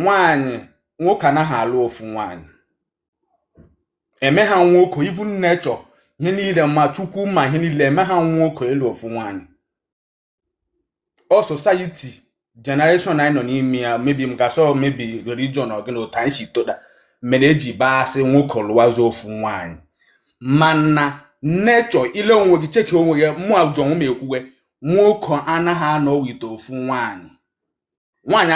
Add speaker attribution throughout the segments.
Speaker 1: nwaanyị nwoke anaghị alụ ofu nwaanyị eme ha nwoke even nature ihe niile ma chukwu ma ihe niile eme ha nwoke ịlụ ofu nwaanyị ọ society generation anyị nọ n'ime ya maybe m ga-asị maybe religion or gịnị otu anyị si toda mere eji bịa asị nwoke lụwazi ofu nwaanyị mana nature i lee onwe gị cheki onwe gị mụ ajọ m ekwuwe nwoke anaghị anọ with ofu nwaanyị nwaanyị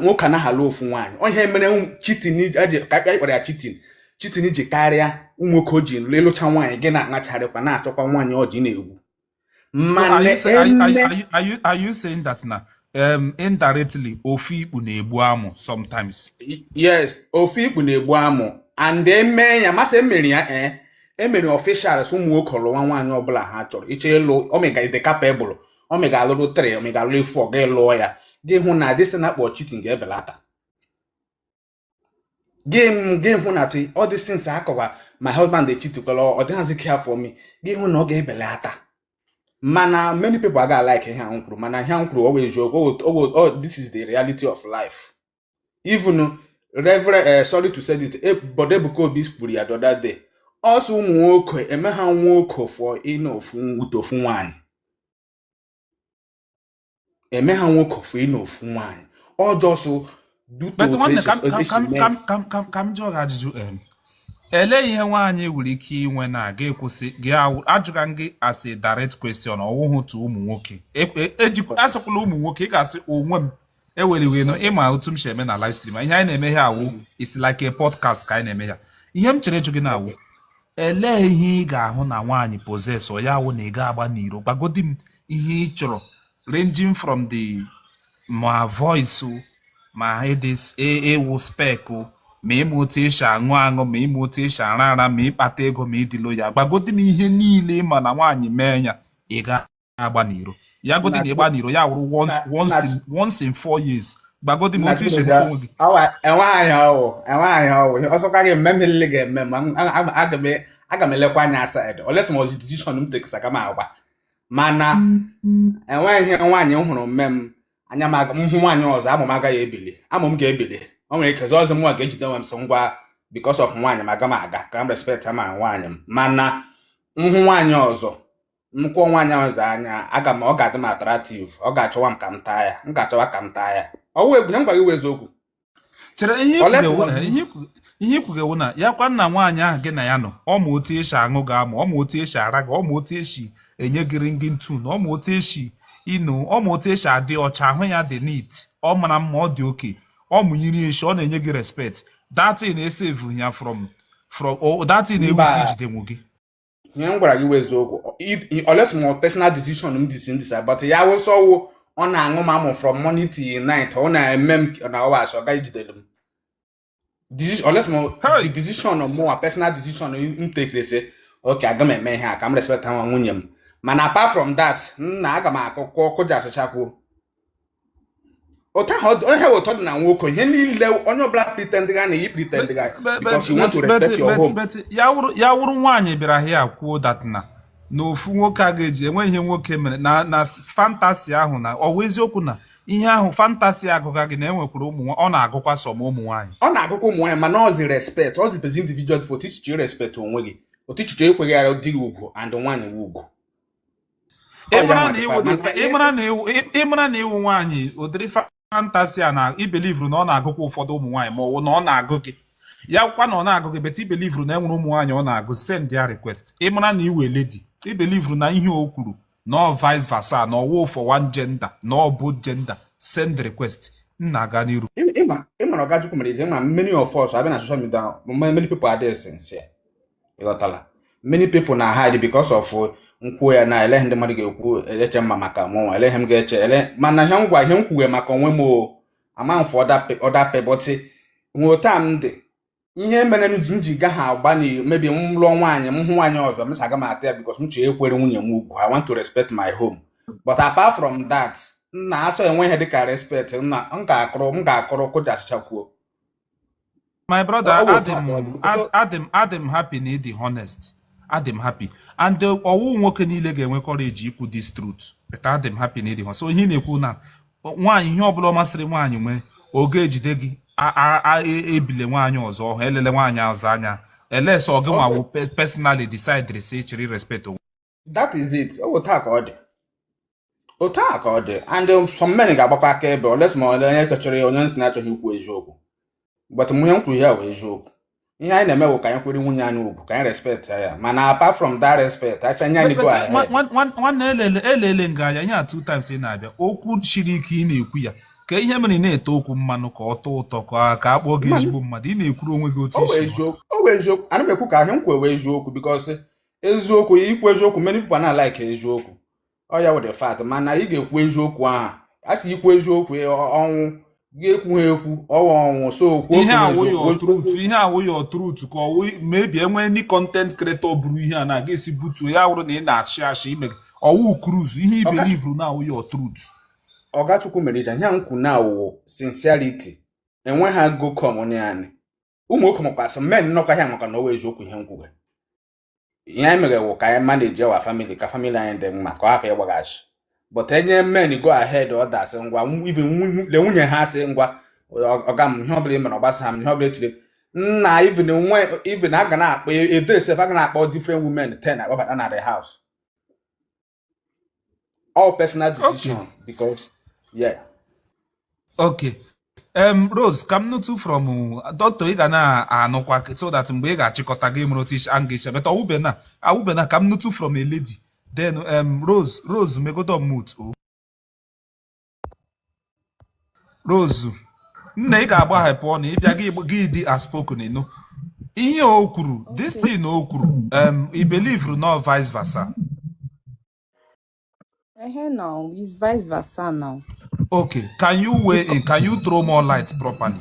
Speaker 1: nwoke anaghị alụ ofu nwaanyị ọ ihe mere cheating eji ka akpịa ịkpara ya cheating cheating ji karịa ụmụ nwoke o ji lụ ịlụcha nwaanyị gị na-aṅacharịkwa na-achọkwa nwaanyị ọjị na-egwu So are mana you say are, you- are, eme
Speaker 2: you- are you are you are you saying that na um indirectly ofu ikpu na-egbu amụ sometimes?
Speaker 1: yes ofu ikpu na-egbu amụ and eme ya masị emere ya ee emere officials ụmụ nwoke lụwa nwaanyị ọbụla ha chọrọ iche ịlụ ọ ma ị ga-adị capable ọ ma ị ga-alụrụ three ọ ma ị ga-alụrụ four gị lụọ ya gị hụ na this thing a na-akpọ cheating ga-ebelata gị gị hụ na all these things akọwa my husband dey cheat kwere ọ dịghịzi care for me gị hụ na ọ ga-ebelata mana many people aga like ihe ahụ kwuru mana ihe ahụ kwuru ọ bụ eziokwu this is the reality of life even reverend eh, sorry to say it eh, but Ebuka Obi kwuru ya the other day ọ sị ụmụ nwoke eme ha nwoke for ịnọ ofu with ofu nwaanyị eme ha nwoke for ịnọ ofu nwaanyị ọ just due
Speaker 2: to ka m jụọ gị ajụjụ elee ihe nwaanyị nwere ike inwe na ga ekwụsị gị ajụga gị as a direct question ọ wụhụ to ụmụ nwoke e, e, e asịkwala ụmụ nwoke ị ga-asị onwe m eweliwe no ịma otu m si eme na live stream ihe anyị na-eme ihe a wụ is like a podcast ka anyị na-eme ya ihe m chọrọ ịjụ gị na-awụ elee ihe ị ga-ahụ na nwaanyị possess ya awụ na ị ga-agba n'iro gwagodi m ihe ị chọrọ ranging from the ma voice o, ma ịdị s- ị- ịwụ spec o, ma ịma otu esi aṅụ aṅụ ma ịma otu esi ara ara ma ịkpata ego ma ịdị loyal gwagodi m ihe niile ị ma na nwaanyị mee ya ị ga agba n'iro ya godi na ịgba n'iro ya wụrụ once in four years gwagodi m otu isi onwe gị enweghị
Speaker 1: ọwụ enweghị ọwụ ọ sọkwa gị mme mmiri ga-eme ma aga m elekwa anya outside unless ma ozi decision m take sị ka m agba mana enweghị ihe nwaanyị m hụrụ mme m anya m hụ nwaanyị ọzọ amụ m agaghị ebili amụ m ga-ebili o nwere ike zọọ ọzọ m nwa ga-ejide nwe m so ngwa because of nwaanyị m aga m aga ka m respect ma nwaanyị m mana m hụ nwaanyị ọzọ m kpọ nwaanyị ọzọ anya aga m ọ ga-adị m attractive ọ ga-achọwa m ka m taa ya m ga-achọwa ka m taa ya ọwụ egwu ya m gwa gị eziokwu chere
Speaker 2: ihe ị kwuga wụ na ya kwa na nwaanyị ahụ gị na ya nọ ọ ma otu esi aṅụ gị amụ ọ ma otu esi ara gị ọ ma otu esi enye gị ringing tone ọ ma otu esi you know ọ ma otu esi adị ọcha ahụ ya dị neat ọ mara mma ọ dị okay ọ ma nri eshi ọ na-enye gị respect that na esevu ya from from that na egwu gị jidenwu gị ihe m gwara
Speaker 1: gị wụ eziokwu unless ma personal decision m deci- m decide but ya wụsọwo ọ na-aṅụ m amụ from morning till night ọ na-eme m na ọwa asị ọ gaghị ejideli m Deci- unless ma Hey! the decision mụwa personal decision m tekere sị okay aga m eme ihe a ka m respect nwa nwunye m mana apart from that nna aga m akụkọ kụja achịchakwuo otu ahụ ọ- onye ha wụ otu ọ dị na nwoke niile onye ọbụla pretend ga na anyị pretend ga But- because you want to but- but- respect your but- home but ya wụrụ ya wụrụ
Speaker 2: nwaanyị bịara here kwuo that na na ofu nwoke a ga-eji enweghị ihe nwoke mere na na fantasy ahụ na ọwa eziokwu na ihe ahụ fantasy agụga gị na enwekwara ụmụ nwa- ọ na-agụkwa sọ ma ụmụ nwaanyị ọ na-agụkwa ụmụ nwaanyị mana
Speaker 1: ọzi respect ọzi bezi individual for otu ichiche respect onwe gị otu ichiche ekwere di gị ugwu and nwaanyị gị ugwu
Speaker 2: ịmara na ịwụ nwaanyị ụdịrị fantasy a na i believeru na ọ na-agụkwa ụfọdụ ụmụ nwaanyị ma ọ bụ na ọ na-agụ gị ya kwa na ọ na-agụ gị but i believeru na enwere ụmụ nwaanyị ọ na-agụ send your request ịmara na ịwụ a lady i believeru na ihe o kwuru na ọ vice versa na ọwụ for one gender na ọ both gender send request nna aga n'iru ịmara ọgajukwu
Speaker 1: mere ije ma many of us abịa na social media many people adịghị sincere ịghọtala many people na hide because of m kwuo ya na elee ihe ndị mmadụ ga-ekwu eche mma maka mụnwa elee ihe m ga-eche ele mana ihe m gwa ihe m kwuwe maka onwe m o ama m for other people but ọwụ otu m dị ihe mere m ji m ji gaghị agba na maybe m lụọ nwaanyị m hụ nwaanyị ọzọ m sị aga m ata ya because m chọrọ ikwere nwunye m ugwu I want to respect my home but apart from that nna a sị enweghị ihe dịka respect nna m ga-akụrụ m ga-akụrụ kụja achịcha kwuo
Speaker 2: my brother adị m adị m happy na ịdị honest adị m happy and uh, ọwụ nwoke niile ga-enwe courage ikwu this truth but adị m happy na ịdị honest so ihe ị na-ekwu na nwaanyị ihe ọbụla masịrị nwaanyị nwee ọ gaghị ejide gị e, ebile nwaanyị ọzọ ọhụ ilele nwaanyị ọzọ anya unless ọ gịnwa wụ personally decide sị ị chọrọ i respect onwe that is
Speaker 1: it ọ bụ otu a ka ọ dị otu a ka ọ dị and um, some men ga-agbakwa akaebe unless ma ole onye ke chọrọ ya onye nke na-achọghị ikwu eziokwu but ihe m kwuru ya bụ eziokwu ihe anyị na-eme bụ ka anyị kwere nwunye anyị ugwu ka anyị respect ya mana apart from that respect acha nye anyị go ahead nwanne
Speaker 2: elele elele nga a anya ihe a two times ị na-abịa okwu siri ike ị na-ekwu ya ka ihe mere ị na-ete okwu mmanụ ka ọ tọọ ụtọ ka ka a kpọọ gị ezigbo mmadụ ị na-ekwuru onwe gị otu ọ bụ isi eziokwu ọ bụ eziokwu ana m
Speaker 1: ekwu ka ihe a m kwuo bụ eziokwu because eziokwu ikwu eziokwu many people ana alike eziokwu ọ ya wụ the fact mana ị ga-ekwu eziokwu ahụ a sị ikwu eziokwu e, ọ- ọnwụ gị ekwuha ekwu ọ wụ ọnwụ so okwu
Speaker 2: ihe awụ your truth ka ọ wụ maybe enwee any content creator bụrụ ihe a na-aga esi butuo ya wụrụ na ị na-ashị ashị ime ọ wụ cruise ihe i believuru na awụ your truth Ọga
Speaker 1: Chukwumerije ihe a m kwu na awụ sincerity enweghị agụ ka ụmụ nwaanyị ụmụ nwoke makwasị men nọkwa ya maka na ọ wụ eziokwu ihe m kwuru ihe anyị mere wụ ka anyị manage our family ka family anyị dị mma ka ọ hafụ ịgbaghasị but enye men go ahead orders ngwa even le nwunye ha asị ngwa ọga m ihe ọbụla ị mere ọ gbasaha m ihe ọbụla echiri nna even a ga na-akpọ a day sef a ga na-akpọ different women ten akpọbata na the house all personal decision okay. because
Speaker 2: yeah okay um, Rose ka m nụtụ from uh, doctor ị ga na-anụkwa so that mgbe ị ga-achịkọta gị mụrụ tish and gịcha but awụbena awụbena ka m nụtụ from a lady then um, Rose Rose megodo mute o. Rose nne ị ga-agbaghepụ ọnụ ebe a gị dị outspoken ị nụ ihe o kwuru this thing o kwuru um, i believuru n'ọ vice versa Ehe now,
Speaker 3: it's vice versa now. Okay, can
Speaker 2: you weigh in? Can you throw more light properly?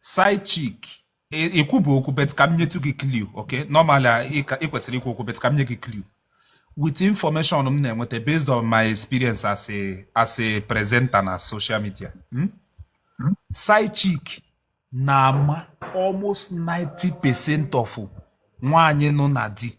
Speaker 2: side chick i kwubu okwu but ka m nyetu gị clue okay normally ị kwesịrị ikwu okwu but ka m nye gị clue with information m na-enweta based on my experience as a as a presenter na social media hmm? Hmm? side chick na-ama almost 90 percent of nwaanyị nọ na di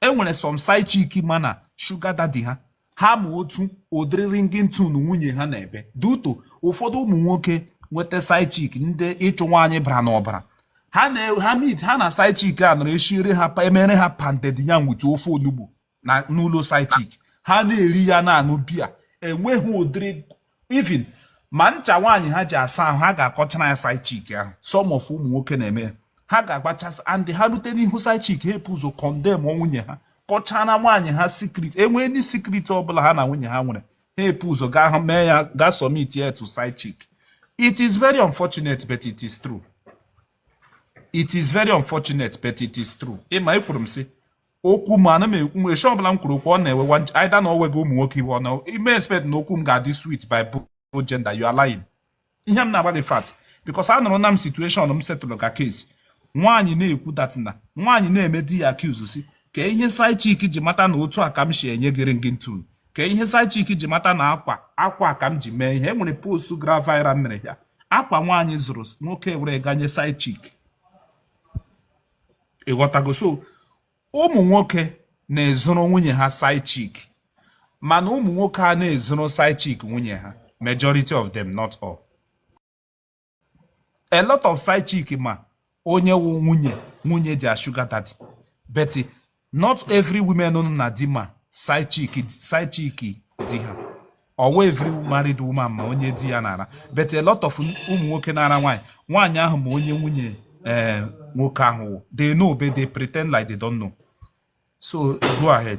Speaker 2: e nwere some side chick ma na sugar daddy ha ha ma otu ụdịrị ringing tune nwunye ha na-ebe due to ụfọdụ ụmụ nwoke nweta side chick ndị ịchụ nwaanyị bara n'ọbara ha na ha meet ha na side chick a nọrọ eshiere ha emere ha pounded yam with ofe onugbu na n'ụlọ side chick ha na-eri ya na-aṅụ beer enweghị ụdịrị even ma ncha nwaanyị ha ji asa ahụ ha ga-akọchara ya side chick ahụ some of ụmụ nwoke na-eme ha ga-agbachasị and ha rute n'ihu side chick ha epu ụzọ condemn nwunye ha kọchara nwaanyị ha secret enwee any secret ọbụla ha na nwunye ha nwere ha epu ụzọ gaa mee ya gaa submit ya to side chick it is very unfortunate but it is true it is very unfortunate but it is true ị ma ekwuru m sị okwu m ana m ekwu m eche ọbụla m kwuru okwu ọ na-ewe either na owe gị ụmụ nwoke iwe ọ na i me expect na okwu m ga-adị sweet by both gender you are lying ihe m na-agba gị fact because anụrụna m situation m settle ka case nwaanyị na-ekwu dat na nwaanyị na-eme di ya accuse si ka ihe side chick ji mata na otu a ka m si enye gị ringing tune ka ihe side chick ji mata na akwa akwa ka m ji mee ihe e nwere post gara viral mere ya akwa nwaanyị zụrụ nwoke were ga nye side chick ịghọtago so ụmụ nwoke na-ezoro nwunye ha side chick mana ụmụ nwoke a na-ezoro side chick nwunye ha majority of them not all a lot of side chick ma onye wụ nwunye nwunye their sugar daddy but not every woman nọ na di ma side chick side chick di ha or every married woman ma onye di ya na-ara but a lot of ụmụ nwoke na-ara nwaanyị nwaanyị ahụ ma onye nwunye ee eh, nwoke ahụ wụ they know but they pretend like they don't know so go ahead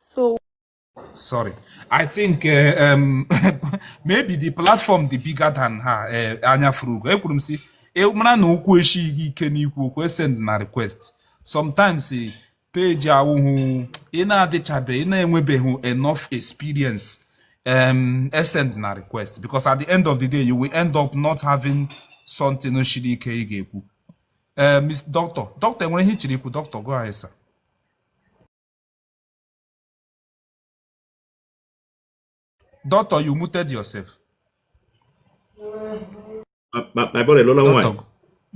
Speaker 2: So sorry i think uh, um, maybe the platform dị bigger than ha eh, anya fụrụ ugo ekwuru m sị ị mara na okwu eshighị gị ike n'ikwu okwu esend na request sometimes eh, page awụhụ ị na-adịchabe ị na-enwebeghị enough experience um, esend na request because at the end of the day you will end up not having something shiri ike ị ga-ekwu ee eh, mis dọkịta dọkịta enwere ihe ichiri ikwu dọkịta gụọ anyị sa dọkịta you muted yourself
Speaker 4: my brother lụla nwaanyị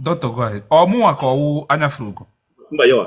Speaker 4: dọkịta
Speaker 2: gụọ anyị ọ mụnwa ka ọwụ anya furu ugo mba yawa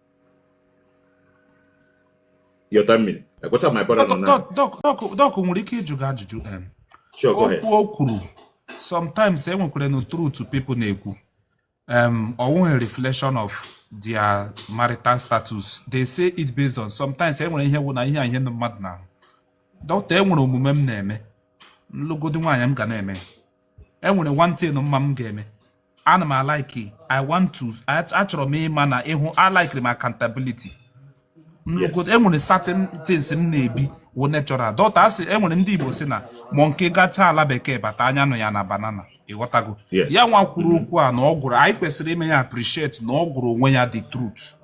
Speaker 2: doc nwere ike ịjụ gị ajụjụ okwu o
Speaker 4: kwuru sometimes
Speaker 2: e nwekwaranụ truth people na-ekwu um, ọ wụghị reflection of their marital status they say it based on sometimes e nwere ihe wụ na ihe a ihe ndị mmadụ na-ahụ doctor e nwere omume m na-eme m lụgodi nwaanyị m ga na-eme e nwere one thing m ma m ga-eme ana m alike i want to achọrọ m ịma na ịhụ alaikiri m
Speaker 4: accountability enwere certain
Speaker 2: things m na-ebi wụ natural doctor asị enwere ndị Igbo sị na monkey gacha ala bekee bata anya nụ ya na banana ịghọtago ya nwa kwuru mm-hmm. okwu a na o kwuru anyị kwesịrị ime ya appreciate na ọ gwara onwe ya the truth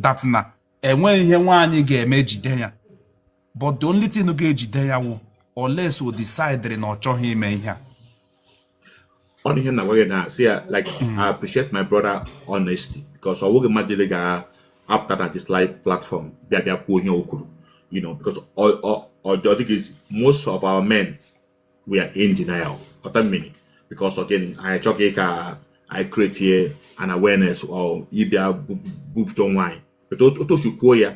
Speaker 2: that na enweghị ihe nwaanyị ga-eme jide ya but the only thing ga-ejide ya wụ unless o decidere na ọ chọghị ime ihe
Speaker 4: a ọ wụ ihe na-agwa gị na si ya like mm. I appreciate my brother honesty because ọ bụghị mmadụ niile ga-apụta na this live platform bịa bịa kwuo ihe o kwuru you know because ọ dịghị most of our men we are in denial ọta mmiri because ọ gịnị anyị chọghị ka I create an awareness or ịbịa bupụta onwe anyị but otu o si kwuo ya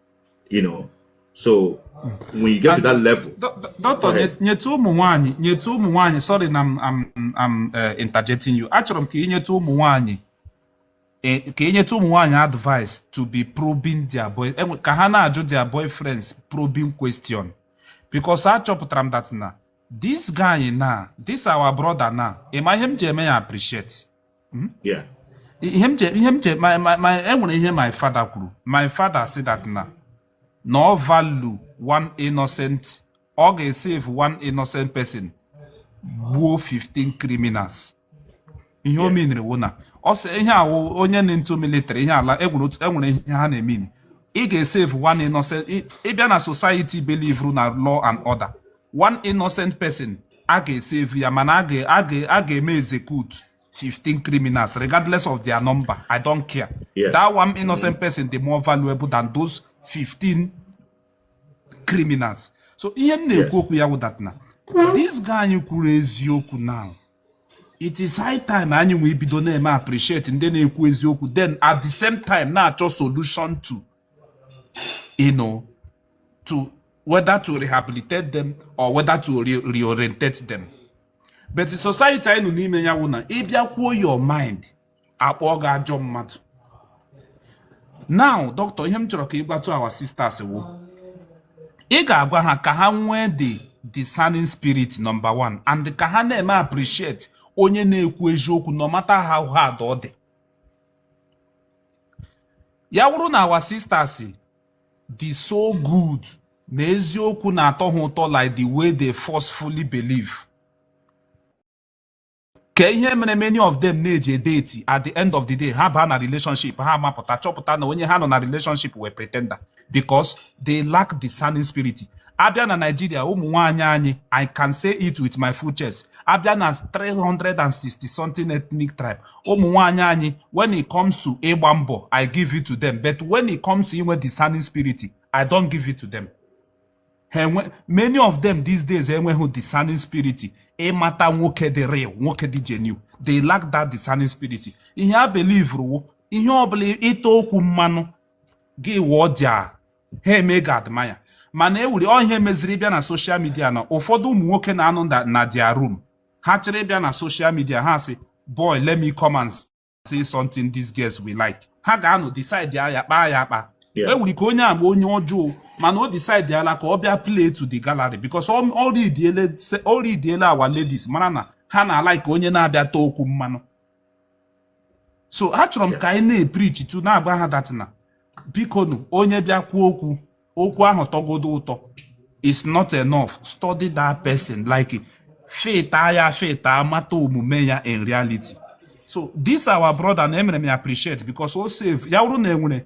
Speaker 4: you know so when you get to that level doctor nyetụ
Speaker 2: ụmụ nwanyị nyetụ ụmụ nwanyị sorry na am uh, interjecting you achọrọ m ka ị nyetụ ụmụ nwanyị e, ka ị nyetụ ụmụ nwanyị advice to be probing their boy e, ka ha na-ajụ their boyfriends probing question because achọpụtara m that na this guy na this our brother na ịma ihe m ji eme ya appreciate
Speaker 4: Hmm? Yeah. ihe m che ihe m che my
Speaker 2: my my enwere ihe my father kwuru my father sị that na na ọ value one innocent ọ ga-esave one innocent person gbuo 15 criminals ihe o meaniri wụ na ọ sị ihe awụ onye nọ into military ihe ala enwere otu- enwere ihe ha na-emean ị ga-esave one innocent ị- ịbịa na society believeru na law and order one innocent person a ga-esave ya mana a ga-eme execute 15 criminals regardless of their number i don't care yes. that one innocent
Speaker 4: mm. person
Speaker 2: dị more valuable than those 15 criminals so ihe m na-ekwu okwu ya wụ that na this guy anyị kwuru eziokwu now it is high time anyị nwee ibido na-eme appreciate ndị na-ekwu eziokwu then at the same time na-achọ solution to you know to whether to rehabilitate them or whether to re reorientate them but society anyị nọ n'ime ya wụ na ị bịa kwuo your mind a kpọọ gị ajọ mmadụ now doctor ihe m chọrọ ka ị gwatụ our sisters wụ ị ga-agwa ha ka ha nwee the discerning spirit number one and ka ha na-eme appreciate onye na-ekwu eziokwu no matter how hard ọ dị ya wụrụ na our sisters dị so good na eziokwu na-atọ ha ụtọ like the way they forcefully believe kee ihe mere many of them na-eje date at the end of the day ha baa na relationship ha amapụta chọpụta na onye ha nọ na relationship wụ a pretender because they lack discerning spirit a bịa na Nigeria ụmụ nwaanyị anyị I can say it with my full chest a bịa na 360 something ethnic tribe ụmụ nwaanyị anyị when it comes to ịgba mbọ I give it to them but when it comes to inwe discerning spirit I don't give it to them many of them these days enweghị discerning spirit ịmata nwoke dị real nwoke dị genuine they lack that discerning spirit ihe ha believeru wụ ihe ọbụla ị ta okwu mmanụ gị wụọ dia ha eme gị admire mana e wuri ọ ihe meziri ị bịa na social media na ụfọdụ ụmụ nwoke na-anọ na their room ha chere ịbịa na social media ha sị boy let me come and say something these girls will like ha ga-anọ decide ya kpaa ya akpa e wuri ka onye a wụ onye ọjọọ mana o decidela ka ọ bịa play to the gallery because ọ readiela our ladies mara na ha na-alike onye na-abịa taa okwu mmanụ so achọrọ m ka anyị na-eprichi too na-agwa ha that na bikonu onye bịa kwuo okwu okwu ahụ tọgodo ụtọ is not enough study that person like filter ya filter mata omume ya in reality so this our brother na emere m appreciate because o save ya wụrụ na enwere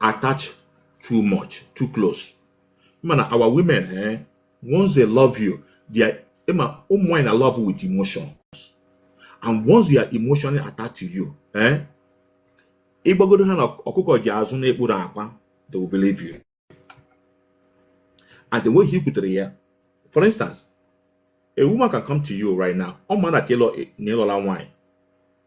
Speaker 4: attach too much too close mana our women eh, once they love you they are ịma ụmụ nwanyị na love with emotions and once they are emotionally attached to you eh, ịgwagodo ha na ọkụkọ ji azụ na-ekpuru akwa they will believe you and the way i kwutere ya for instance a woman can come to you right now ọ ma na ka ịlụọla nwanyị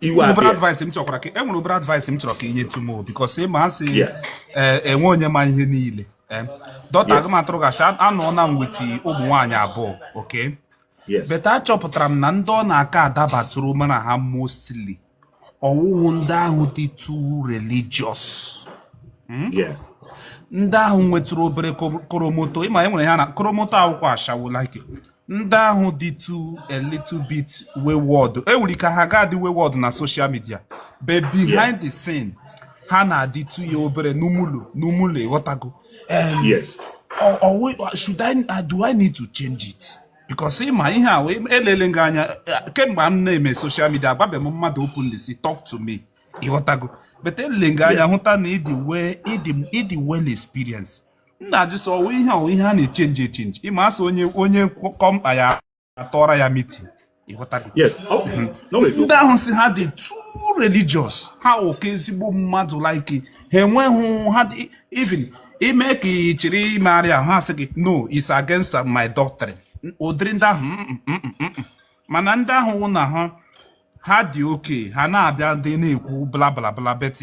Speaker 4: enwere obere advice m chọkwara ka
Speaker 2: e nwere obere advice m chọrọ ka inyetụ mụ because ị ma asị eh, enwe onye ma ihe niile eh, dọta aga m atụrụ gachi anọ na nwete ụmụ nwaanyị abụọ okay but achọpụtara m na ndị ọ na-aka adabatụrụ mụ na ha mostly ọwụghị ndị ahụ dị
Speaker 4: too
Speaker 2: religious hmm? ndị ahụ nwetụrụ obere koromoto ịma e nwere ya na koromoto awụkwa ashawo like ndị ahụ dịtụ a little bit wayward enwere ike ha ga-adị wayward na social media but behind the scene ha na-adịtụ ya obere normal normal ịghọtago
Speaker 4: should
Speaker 2: I uh, do I need to change it because ịma ihe a elele gị anya uh, kemgbe m na-eme social media agwabeghị m mmadụ openly sị talk to me ịghọtago but elele gị anya hụta na ịdị well experience m na-ajụ sị ọwụ ihe ọwụ ihe a na-echenji echenji ịma asị onye onye kọọ mkpa ya atọra ya meeting ịghọtago Yes. Oh, mhm.
Speaker 4: no, it's ndị ahụ
Speaker 2: sị ha dị too religious ha oke ezigbo mmadụ like ha enweghị ha dị even ime ka ị chọrọ imegharị ahụ ha sị gị no it's against my doctrine ụdịrị ndị ahụ mm, mm, mm, mana ndị ahụ wụ na ha ha dị okay ha na-abịa ndị na-ekwu bla bla bla but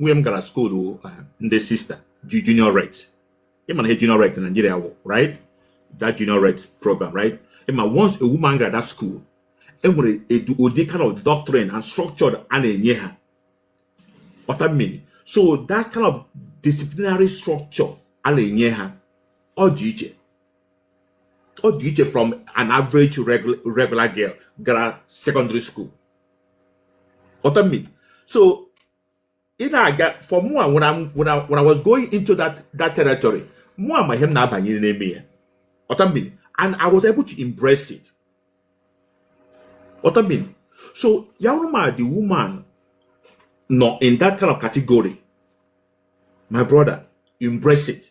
Speaker 4: nwunye m gara school uh, ndị sister juniorate ịma na ihe juniorate na Nigeria wụ right that juniorate program right ịma once a woman gara that school enwere ụdị kind of doctrine and structure a na-enye ha what I mean so that kind of disciplinary structure a na-enye ha ọ dị iche ọ dị iche from an average regular girl gara secondary school Otomi. So ị na-aga for mua when I'm when I, when I was going into that that territory mua ma ihe m na-abanye n'ime ya Otomi. And I was able to embrace it. Otomi. So Yaruma, the woman, not in that kind of category. My brother, embrace it.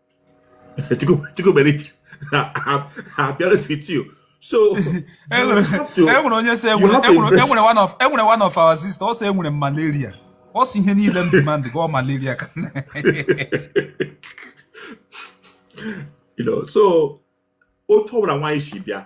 Speaker 4: chukwumerije I'll be honest with you so enwere onye sị enwere
Speaker 2: one of enwere one of our sister ọ sị enwere m malaria ọ sị ihe niile m dị ma ndị gwọọ malaria ka you
Speaker 4: know so otu ọbụla nwaanyị si bịa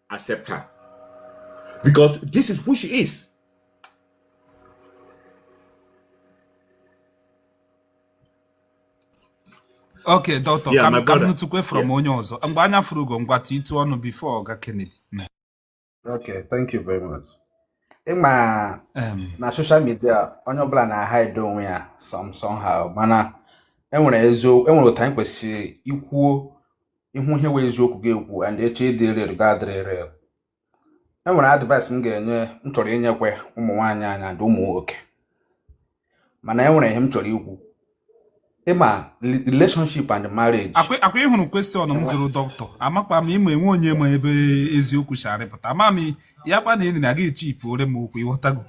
Speaker 4: accept her because this is who she
Speaker 2: is. okay doctor yeah, ka m nụtụkwe
Speaker 4: from
Speaker 2: onye ọzọ mgbe anya furu ugo ngwa tiitu ọnụ before oga Kennedy
Speaker 1: okay thank you very much ịma na social media onye ọbụla na-ahide onwe ya some somehow mana enwere otu anyị kwesịrị ikwuo ihu ihe wụ eziokwu ị ga-ekwu and eche ịdị real ga-adịrị real e nwere advice m ga-enye m chọrọ inyekwe ụmụ nwaanyị anyị and ụmụ nwoke mana e nwere ihe m chọrọ ikwu ịma relationship and marriage ọkwa ịhụrụ
Speaker 2: question m jụrụ dọkịta amakwa m ịma enwe onye ma ebe eziokwu si apụta ama m ya kwa na enyi na aga echi ipu ore m okwu ịghọtago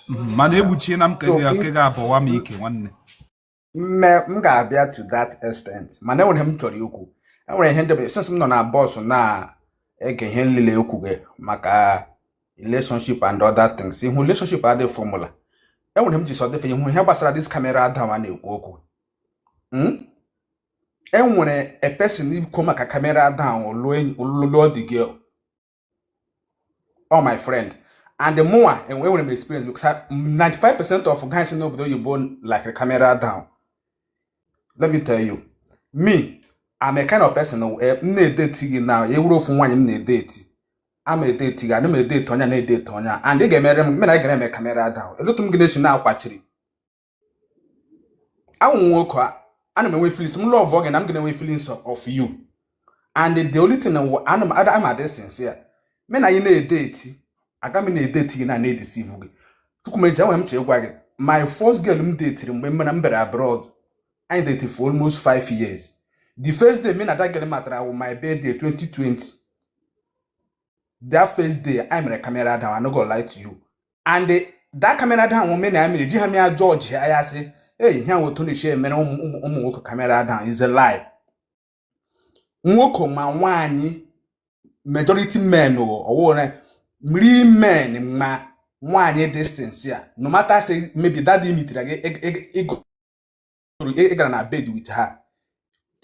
Speaker 2: mhm, mana egbuchie na nke ga-abọwa m ike nwanne
Speaker 1: mme m ga-abịa to that extent mana enwere m chọrọ ikwu enwere ihe ndebe since m nọ na bọọsụ na-ege ihe nlile ekwuge maka relationship and other things ị hụ relationship adịghị formula enwere m ji sị dịfe ị hụ ihe gbasara this camera down a na-ekwu okwu hmm? enwere a person ikwu maka camera down ọ lụọdị gị ọ my friend and mụwa enwere m experience because 95% of guys in obodo oyibo like camera down let me tell you me i'm a kind of person m eh, na-edeti gị na ị wụrụ ofu nwaanyị m na-edeti ama m edeti gị ana m edeti onye a na-edeti onye a and ị ga-emere m mena ị ga-eme camera down elutu m gị na-esi na-akwachiri awụ m nwoke ana m enwe feelings m love gị na m ga-enwe feelings of you and the only thing na wụ- ana m ada ama adị sincere mụ na gị na-edeti aga m na-edeti gị na na-edisivu gị chukwumeji enwere m chọ ịgwa gị my first girl m detiri mgbe m na m bere abroad anyị deti for almost five years the first day mụ na that girl matara wụ my birthday 2020 that first day anyị mere camera down i no go lie to you and that camera down women na mere ji ha mea judge ya ya sị eyi ihe ahụ otu unu si eche emere ụmụ nwoke camera down is a lie nwoke ma nwaanyị majority men ọwụrụ mri men ma nwaanyị dị sincere no matter say maybe that day mitere gị ịgụ toro ị gara na bed with her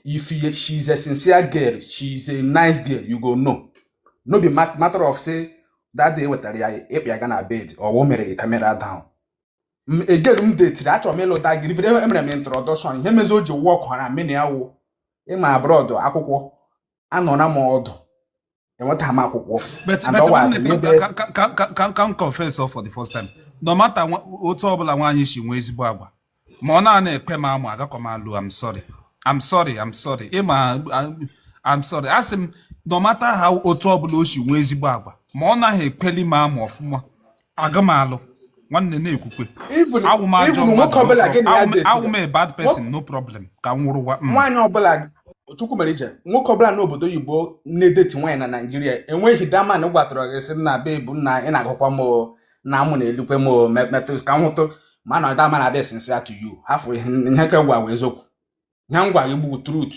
Speaker 1: if she is a sincere girl she is a nice girl you go know no be mat- matter of say that day wetara ya ị kpọ ya ga na bed ọwụ mere camera down a girl m detiri achọrọ m ịlụ that girl emere m introduction ihe mezi o ji workghara mụ na ya wụ ịma abroad akwụkwọ anọra m ọdụ enwetaghị m akwụkwọ But, And but ọwa nwanne, ka-
Speaker 2: n'ebe- ka- ka- ka- ka- ka- ka m confess o for the first time no matter nwa- otu ọbụla nwaanyị si nwee ezigbo agwa ma ọ na-ana ekwe m amụ agakwa m alụ I'm sorry I'm sorry I'm sorry ịma I'm- I'm sorry a sị m no matter how otu ọbụla o si nwee ezigbo agwa ma ọ naghị ekweli m amụ ọfụma aga m alụ nwanne na-ekwukwe even
Speaker 1: awụ m a bad person
Speaker 2: no problem ka m wụrụwa mm. nwaanyị ọbụla
Speaker 1: Chukwumerije nwoke ọbụla n'obodo oyibo na-edeti nwaanyị na naijiria enweghị that man gwatara gị sị na babe na ị na-agụkwa m o, na amụ na-elukwe m o, me- metụ ka m hụtụ ma na that man adị sincere to you hafụ ihe ihe ka m gwa gị eziokwu ihe m gwa gị bụ truth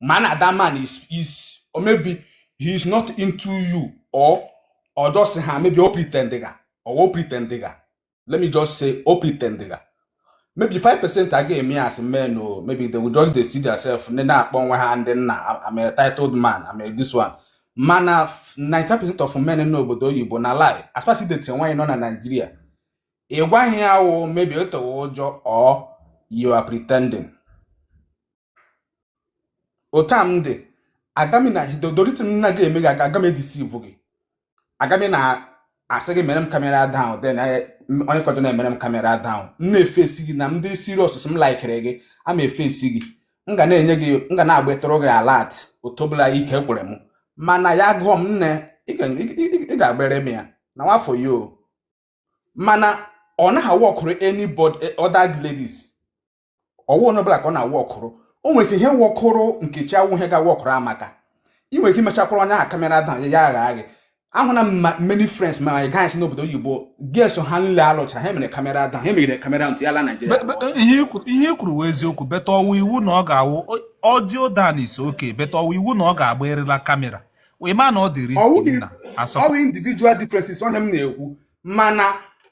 Speaker 1: mana that man is is or maybe he is not into you or or just ha maybe o pretend ga or o pretend ga let me just say o pretend ga maybe five percent a ga-eme as men or maybe they will just dey see themselves ndị na-akpọ onwe ha ndị nna I'm a titled man I'm a this one mana 95 percent of men n'obodo oyibo na lie as far as ị dating nwaanyị nọ na Naịjirịa ị gwaghị ya wụ maybe out of ụjọ or you are pretending otu a m dị aga m na dodoriti m na gị eme gị aga m edisivu gị aga m na-asị gị mere m kamera down then I- m- onye ọzọ na-emere m kamera down m na-efesi gị na m dịrị serious m laikere gị a ma efesi gị m ga na-enye gị m ga na-agbatụrụ gị alert otu ọbụla ike kwere m mana ya gụọ m nne ị ga- ị- ị- ị ga-agbere m ya na nwafọ ya o mana ọ naghị awọkụrụ anybody eh, other ladies ọwụ onye ọbụla ka ọ na-awọkụrụ o nwere ike ihe wọkụrụ nkechi awụ ihe ga-awọkụrụ amaka ị nwere ike imechakwara onye ahụ kamera down ya aghara gị ahụna m ma many friends my guys n'obodo oyibo girls ha niile alụchara ha mere kamera down ha mere kamera until ya laa naijiria But- but ihe i kwuru- ihe
Speaker 2: i kwuru wụ eziokwu but ọwa iwu na ọ ga-awụ audio down is okay but ọwa iwu na ọ ga-agba erela kamera ịma na ọ dị risk na asọpụ ọwụ
Speaker 1: individual differences ọ ihe m na-ekwu mana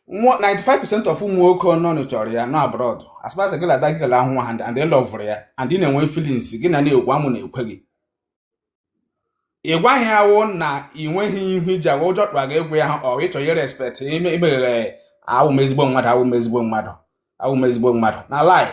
Speaker 1: 95% of ụmụ nwoke nọ chọrọ ya nọ abroad as far as gị na that girl ahụ nwa ha and ị lọvụrụ ya and ị na-enwe feelings gị na ya na-ekwu amụ na-ekwe gị ị gwaghị ya wụ na ị nweghị ihu iji agwa ụjọ kpara gị egwu ya ha or ịchọ ihe respect imeghere awụ m ezigbo mmadụ awụ m ezigbo mmadụ awụ m ezigbo mmadụ na lie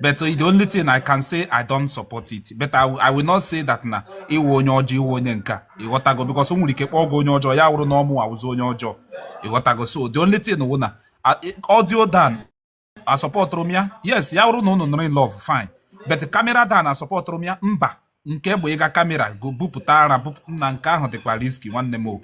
Speaker 2: but the only thing i can say i don't support it but i, I will not say that na ị wụ onye ọjọọ ị wụ onye nke a ịghọtago because o nwere ike kpọọ gị onye ọjọọ ya wụrụ na ọ mụwa wụzi onye ọjọọ ịghọtago so the only thing wụ na audio down asọpọtụrụ m ya yes ya wụrụ na unu nọrọ in love fine but camera dan asọpọtụrụ m ya mba nke bụ ịga camera go bupụta ara bupụta na nke ahụ dịkwa risky nwanne m o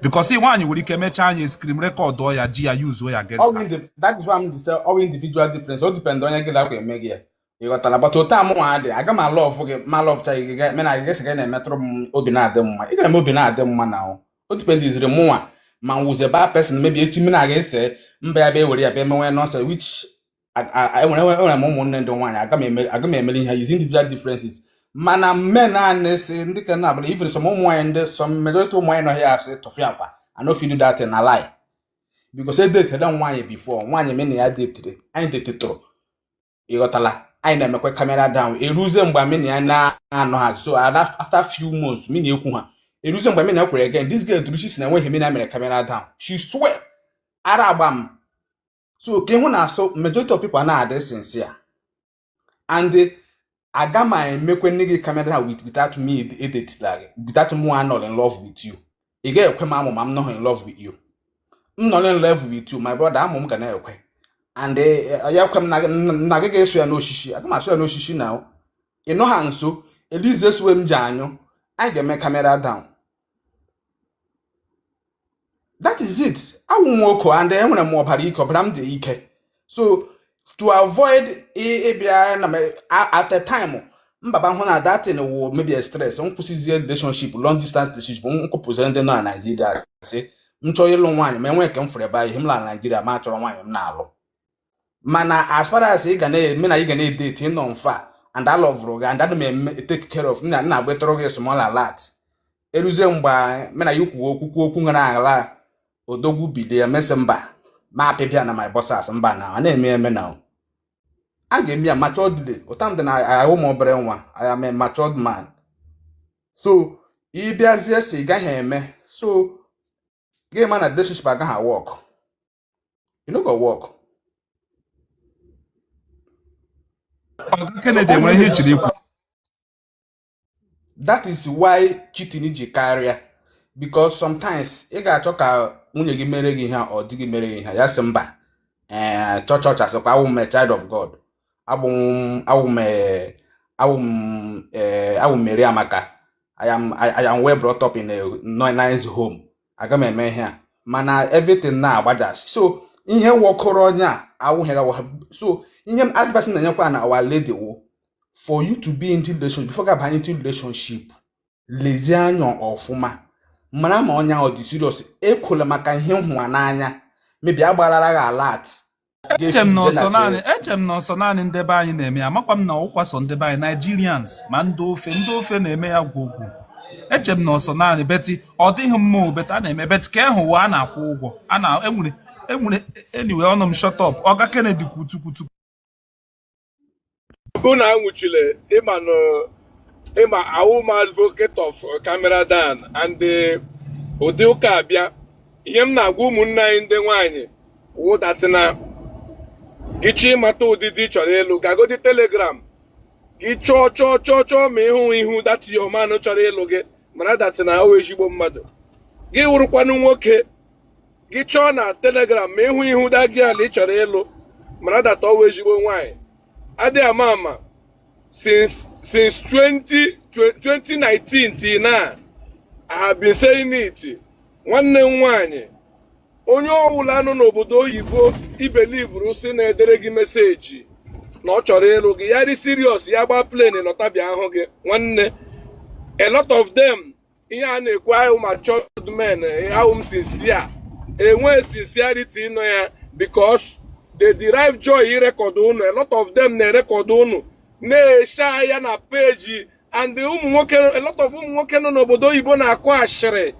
Speaker 2: because nwaanyị nwere ike mechaa anyị screen record ya ji ya yuzuo ya
Speaker 1: against ọ wụ individual difference o depend onye gị dakwa eme gị ya ịghọtara but otu amụ nwa dị aga m alọvụ gị ma alọvụcha gị me na gị gị na-emetụrụ m obi na-adị mma ị ga-eme obi na-adị mma na o dipendiziri mụnwa ma m wụzie bad person maybe echi m na gị ese mba ya bịa ewere ya bịa emenwe nonsense which enwere enwere m ụmụnne ndị nwaanyị aga m emere ihe is individual differences mana mme naanị si ndị ka na abụla even some ụmụ nwaanyị ndị some majority ụmụ nwaanyị nọ here asị tụfịakwa I no fit do that thing na lie because edetela nwaanyị before nwaanyị me na ya detire anyị detetụrụ ịghọtala anyị na-emekwa camera down eruzie mgbe me na ya na-anọha nso after few months me na ya ekwuha eruzie mgbe me na ya kwuru again this girl dụrụ isi na enweghị me na ya mere camera down she swear ara agba m so ka ị hụ na some majority of people na-adị sincere and aga m emekwe na gị camera without me edetila gị without mụ anọ in love with you ị ga-ekwe m amụ ma m nọghị in love with you m nọ in love with you my brother amụ m ga na-ekwe and eh, eh, ya ekwe m na gị ga-eso ya n'osisi aga m asụ ya n'osisi na ị nọha nso elize suwe m ji anyụ anyị ga-eme camera down that is it awụ m nwoko and enwere m ọbara ike ọbara m dị ike so to avoid ị- ịbịa na m- a- at a time m abịa hụ na that thing wụ maybe a stress m kwụsịzie relationship long distance relationship m kwụpụziri ndị nọ na Naịjirịa sị m chọọ ịlụ nwaanyị ma enwee nke m fụrụ ebe a ihe m laa Naịjirịa m achọrọ nwaanyị m na-alụ mana as far as ị ga na me na gị na-edeti ị nọ far and alọvụrụ gị and ana m eme take care of na na-agbatụrụ gị small alert eruzie mgbe me na ya kwuo okwu kwuo okwu nwere ala odogwu bido ya mesị mba ma apịpịa na my boxers mba na a na-eme eme na a ga-eme ya matured dị ụta m dị na awụ m obere nwa I am a matured man so ị bịazie sị ị gaghị eme so gị ma na relationship agaghị work e no go work Oga Kennedy nwere ihe chọrọ ikwu that is why cheating ji karịa because sometimes ị ga-achọ ka nwunye gị mere gị ihe or di gị mere gị ihe ya sị mba ee eh, church church asịkwa awụ m child of God abụ m awụ m eh, awụ m eh, awụ m Mary Amaka I am I, I am well brought up in a nice home aga m eme ihe a mana everything na-agbajasị so ihe wọkọrọ onye a awụghịra wa so ihe advice m na-enyekwa na our lady wụ for you to be into relationship before ị gaba into relationship lezie anya ọfụma mara ma onye ahụ dị serious ekwela maka ihe ị hụwa n'anya maybe agbalara gị alert eche m
Speaker 2: na ọ sọ naanị eche m na ọ sọ naanị ndị be anyị na-eme ya amakwa m na ọ wụkwa sọ ndị be anyị Nigerians ma ndị ofe ndị ofe na-eme ya gwogwo eche m na ọ sọ naanị but ọ dịghị mma but a na-eme but ka ịhụ ụwa a na-akwụ ụgwọ a na enwere enwere anyway ọnụ m shut up ọga Kennedy kwutu kwutu
Speaker 5: unu anwụchile ị ma na ị ma awụ m advocate of camera down and eh, ụdị ụka a bịa ihe m na-agwa ụmụnne anyị ndị nwaanyị wụ that na gị chọọ ịmata ụdị di ị chọrọ ịlụ gagodi telegram gị chọọ chọọ chọọ chọọ ma ị hụ ihu that your man chọrọ ịlụ gị mara that na ọ wụ ezigbo mmadụ gị wụrụkwanụ nwoke gị chọọ na telegram ma ị hụ ihu that girl ị chọrọ ịlụ mara that ọ wụ ezigbo nwaanyị adị ama ama since since 20, 2019 till now I have been saying it nwanne m nwaanyị onye ọwụla nọ n'obodo oyibo i believuru si na-edere gị message na ọ chọrọ ịlụ gị ya dị serious ya gbaa plane lọta bịa ahụ gị nwanne a lot of them ihe a na-ekwu awụ m matured man awụ m sincere enwe sincerity nọ ya because they derive joy irekọdụ unu a lot of them na-erekọdụ unu na-esha ya na page and ụmụ nwoke a lot of ụmụ nwoke nọ n'obodo oyibo na-akụ ashịrị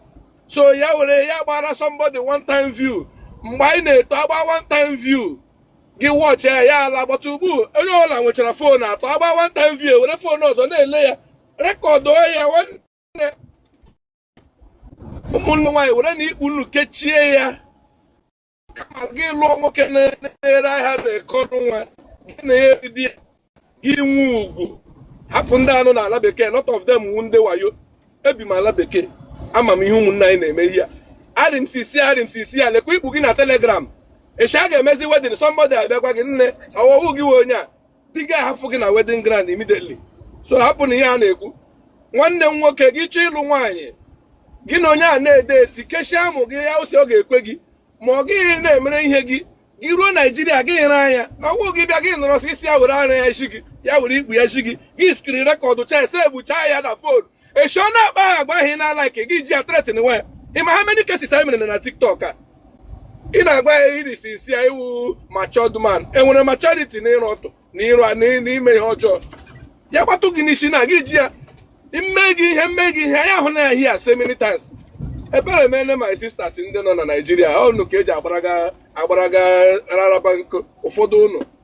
Speaker 5: so ya were ya gbara somebody one time view mgbe anyị na-eto a gbaa one time view gị watch ya ya alaa but ugbu onye ọbụla nwechara phone atọ a gbaa one time view were phone ọzọ na-ele ya rekọdụ ya nwanne ụmụnne nwaanyị were na ikpu unu kechie ya kama gị lụọ nwoke na-ere ahịa n'Eke Ọnụnwa gị na ya eridi ya gị nwe ugwu hapụ ndị a nọ na ala bekee lot of them wu ndị wayo ebi m ala bekee ama m ihe ụmụnne anyị na-eme ihe arị m sincere arị m sincere lekwa ikpu gị na telegram echi a ga-emezi wedding somebody abịa gwa gị nne ọ wụ ọ wụ gị nwe onye a di gị ahafụ gị na wedding ground immediately so hapụ na ihe a na-ekwu nwanne m nwoke gị chọọ ịlụ nwaanyị gị na onye a na-edeti kechie amụ gị ya ụsị ọ ga-ekwe gị ma ọ gị na-emere ihe gị gị ruo naijiria gị nyere anya ọgwụ gị bịa gị nọrọ sị sị ya were ara ya zi gị ya were ikpu ya zi gị gị screen rekọdụcha sevuchaa ya na phone echi ọ na-akpa agwa ahụ ị na-alike gị ji ya threatenwa ya ị ma how many cases anyị mere na tiktok a ị na-agwa ya ị rị sincere i wu matured man enwere maturity na ịra ọtụ na ịrụ a- na- na ime ihe ọjọọ ya gbatụ gị n'isi na gị ji ya mme gị ihe mme gị ihe anyị ahụna ya here so many times ebere emene my sisters ndị nọ na naijiria unu ka e ji agbaraga agbaraga rara bank ụfọdụ ụnụ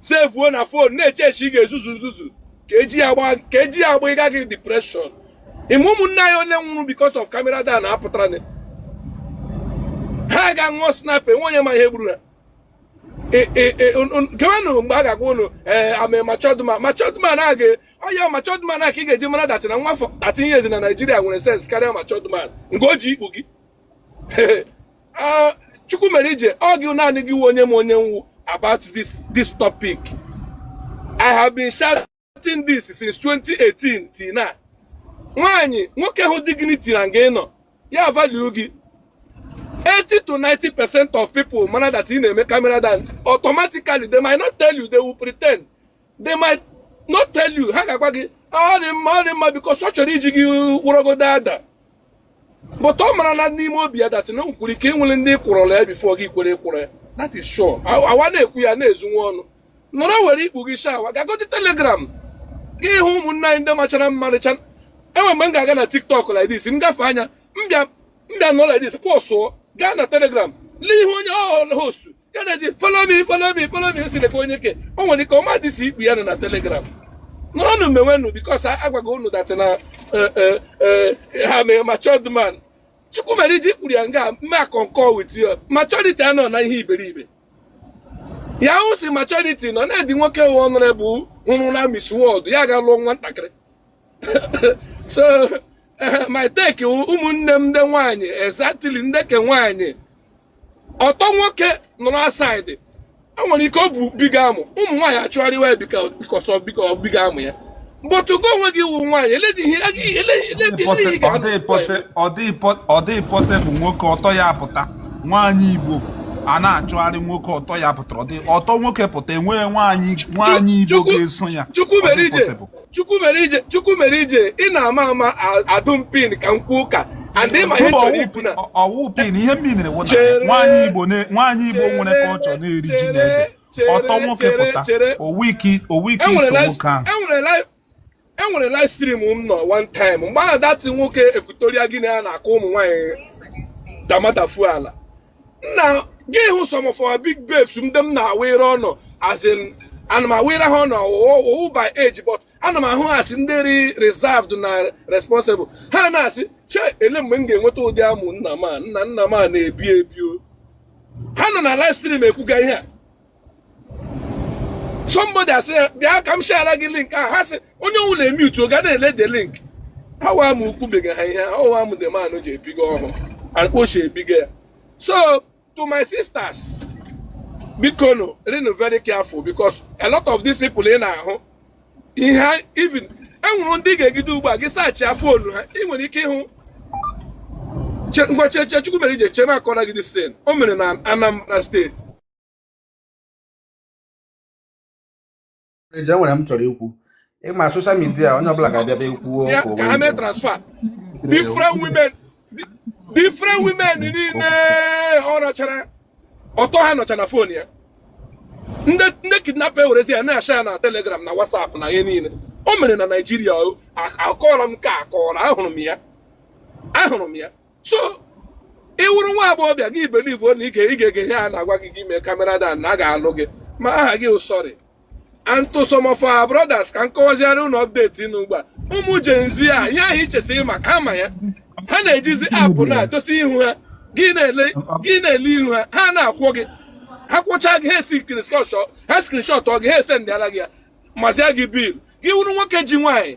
Speaker 5: sevuo na phone na-eche echi ị ga-ezuzu nzuzu ka eji ya agba ka eji ya agba ịga gị depression ị ma ụmụnne anyị ole nwụrụ because of camera down apụtara na ha ga ṅụọ sniper enwe onye ma ihe gburu ha kewenụ mgbe a ga-agwa ụnụ ee i'm a matured man matured man aga ọya matured man a ka ị ga-eji mara that na nwa afọ 13 years na Nigeria nwere sense karịa matured man nke o ji ikpu gị ah, chukwu mere ije ọ gị naanị gị wụ onye ma onye m wụ about this this topic i have been shouting this since 2018 till now nwaanyị nwoke hụ dignity na nga ịnọ ya value gị 80 to 90 percent of people ma na that ị na-eme camera down automatically they might not tell you they will pretend they might not tell you ha ga-agwa gị ọ dị mma ọ dị mma because ọ chọrọ iji gị wụrọgodo ada but ọ mara na n'ime obi ya that na nkwuru ike nwere ndị kwụrọla ya before gị kwere kwere that is sure awa na-ekwu ya na-ezu nwa ọnụ nọrọ were ikpu gị shawa gagodi telegram gị hụ ụmụnne anyị ndị machara mma rịcha enwe mgbe m ga-aga na tiktok like this m gafe anya m bịa m bịa nọ like this pọsụọ gaa na telegram lee ihe onye ọ host ya na-eji follow me follow me follow me si lekwa onye ke o nwere ike ọ madị sị ikpu ya nọ na telegram nọrọnụ mewenụ because a gwaga unu that na eh, eh, eh, i'm a matured man chukwu mere ije kwuru ya nga m mee concur with ya maturity anọ na ihe iberibe ya wụ sị maturity nọ na age nwoke honorable hụrụ na Miss World ya ga lụọ nwa ntakịrị so eh, my take ụmụnne m ndị nwaanyị exactly ndị ke nwaanyị ọtọ nwoke nọrọ outside o nwere ike o bu big amụ ụmụ nwaanyị achụgharịwa ya because of big amụ ya but gị onwe gị wụ nwaanyị eledi
Speaker 2: ihe ọ dịghị possible nwoke ọtọ ya pụta nwaanyị igbo a na-achụgharị nwoke ọtọ ya pụtara ọtọ nwoke pụta enweghị nwaanyị igbo ga-eso ya chukwu mere
Speaker 5: ije chukwu mere ije ị na-ama ama adụ m pin ka m kwuo ụka and ị ma ihe m chọrọ ikwu na ọ wụ pin ihe m minere
Speaker 2: wụ na nwaanyị igbo nwaanyị igbo nwere culture na-eri ji na ede ọtọ nwoke pụta owu ike iso nwoke ahụ
Speaker 5: enwere live stream m nọ one time mgbe ahụ that nwoke Equatorial Guinea na-akụ ụmụ nwaanyị damadafu ala nna gị hụ some of our big babes ndị m na-awere ọnụ as in ana m awere ha ọnụ ọ wụ by age but ana m ahụ ha asị ndị rị reserved na responsible ha na-asị che ele mgbe m ga-enweta ụdị amụ nna m a nna nna m a na-ebi ebi o ha nọ na live stream ekwuga ihe a somebody asị ya bịa ka m share gị link a ha sị onye ọwụla emetụ ọ ga na-ele the link awa m ukwubega ha ihe awa m the man ji ebiga ọhụụ akpochi ebiga ya so to my sisters biko nọrọnụ very careful because a lot of these people ị na-ahụ ihe even enwere ndị ga-egide ugbu a gị saachaa fonu ha ị nwere ike ịhụ ngwa cheche chukwu mere ije chema akọrọ gị this thing o mere na anambra steeti
Speaker 1: eji enwere m chọrọ ikwu ịma soshal midia onye ọbụla ga-abịaba ekwuo ka ha mee transfer
Speaker 5: different women different women niile ọ rachara ọtọ ha nọcha na fon ya ndị kidnap ewerezi ya na-ashea ya na telegram na whatsapp na ihe niile o mere na naijiria akọrọ m ka akọrọ ahụrụ m ya ahụrụ m ya so ị wụrụ nwa agbọghọbịa gị ibelivu na ike ị ga-ege ihe a na-agwa gị gị mee camera down na a ga-alụ gị ma aha gị wụ sorry and to some of our brothers ka m kọwaziara unu update nọ ugbu a ụmụ Gen Z a ihe ahụ i che sị ị ma ha ma ya ha na-ejizi app na-edozi ihu ha gị na-ele gị na-ele ihu ha ha na-akwọ gị ha kwọcha gị ha eskrinshọt ha skrinshọtụọ gị ha esendịara gị ya mazia gị bill gị wụrụ nwoke ji nwaanyị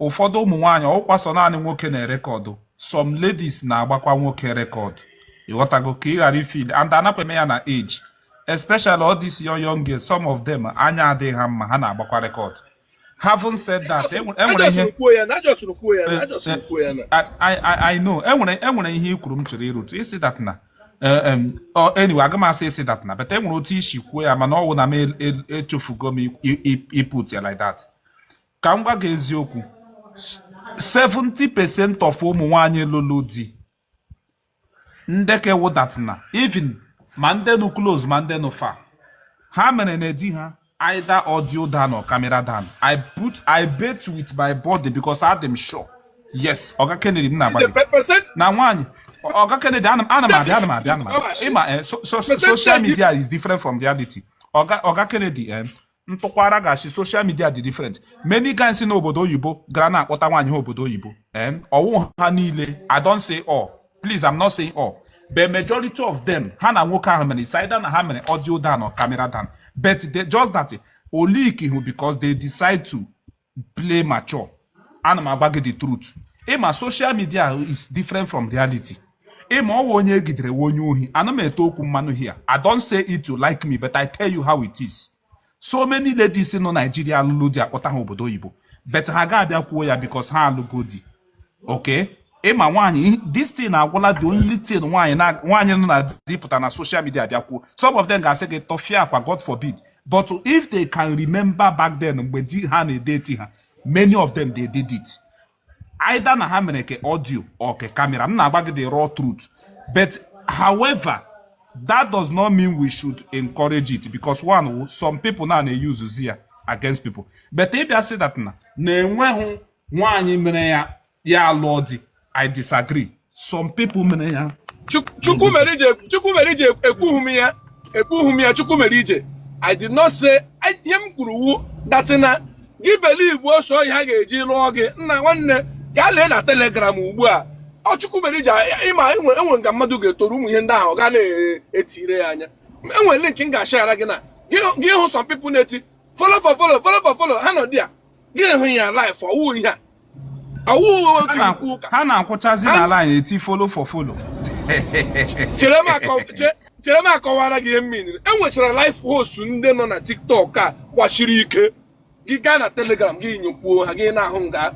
Speaker 2: ụfọdụ ụmụ nwaanyị ọwụkwa sọ naanị nwoke na-erekọdụ some ladies na-agbakwa nwoke rekọdụ ịghọtago ka ị ghara ifeel and anakwa eme ya na age especially all these young young girls some of them anya adịghị ha mma ha na-agbakwa rekọdụ having said that enwere ihe I know enwere enwere ihe i kwuru m chọrọ ịrụtụ ị sị that na eh, anyway aga m asị ị sị that na but enwere otu i si kwuo ya mana ọwụ na m echefugo m iput ya like that ka m gwa gị eziokwu 70% of ụmụ nwanyị lụrụ di ndị ka wụ that na even ma ndị nọ close ma ndị nọ far ha mere na di ha either audio down or camera down i put i bet with my body because adị m sure yes oga kennedy m na-agwa gị. percent na nwaanyị oga kennedy ana m ana m abịa ana m abịa ana m abịa ịma eh, so- so- so- social media is different from reality oga oga kennedy eh, ntụkwara gị sị soshal midia dị different many guys n'obodo oyibo gara na-akpọta nwaanyị ha obodo oyibo ọwụ ha niile i don't say all please i'm not saying all but majority of them ha na nwoke ahụ mere it's either na ha mere audio down or camera down but just that o liikihụ because they decide to play mature ana m agwa gị the truth ịma social media is different from reality ịma ọwụ onye egidere wụ onye ohi ana m ete okwu mmanụ here i don't say it to like me but i tell you how it is so many ladies nọ Nigeria alụlụ di akpọta ha obodo oyibo but ha ga-abịa kwuo ya because ha alụgo di okay ị ma nwaanyị this thing agwụla the only thing nwaanyị na nwaanyị nọ na di pụta na social media bịakwuo some of them ga-asị gị tụfịakwa god forbid but if they can remember back then mgbe di ha na-edeti ha many of them they did it either na ha mere ke audio or ke camera m na-agwa gị the raw truth but however that does not mean we should encourage it because one some people na na-eyuzuzi ya against people but ị bịa sị that na na enweghị nwaanyị mere ya ya alụọ di i disagree some people mere ya Chukwumerije
Speaker 5: Chukwumerije ekwughị m ya ekwughị m ya Chukwumerije i did not say ihe m kwuru wụ that na gị believe ọ sọ ihe a ga-eji lụọ gị nna nwanne gaa lee na telegram ugbu a Chukwumerije ị ma enwee nga mmadụ ga-etoru ụmụ ihe ndị ahụ ga na-etire ya anya enwere link m ga-ashara gị na gị hụ some people na-eti follow for follow follow for follow ha nọ there gị hụ ya live ọ wụ ihe a ọ wụ otu ikwu
Speaker 2: ụka ha na-akwụchazi na line eti follow for follow chere m
Speaker 5: akọ- chere m akọwara gị ihe m miniri enwechara live host ndị nọ na tiktok a kwasiri ike gị gaa na telegram gị nyokwuo ha gị na-ahụ nga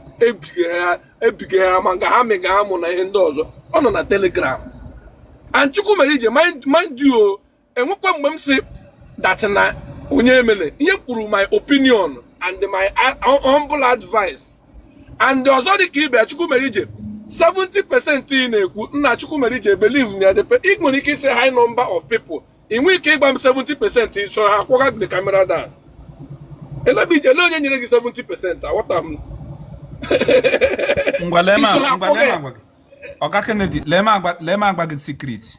Speaker 5: ebige ha ma nga ha mega amụ na ihe ndị ọzọ ọ nọ na telegram and Chukwumerije mind you enwekwa mgbe m sị that na onye emele ihe kwuru my opinion and my humble advice and ọzọ dị ka ibe Chukwumerije 70 percent ị na-ekwu nna Chukwumerije believe na the ị nwere ike ịsị high number of people ị nwee ike ịgwa m 70 percent i so ha kwụga the camera down elee ebe elee onye nyere gị 70 percent aghọta m ngwa lee m agwa
Speaker 2: gị ọga Kennedy lee m agwa gị secret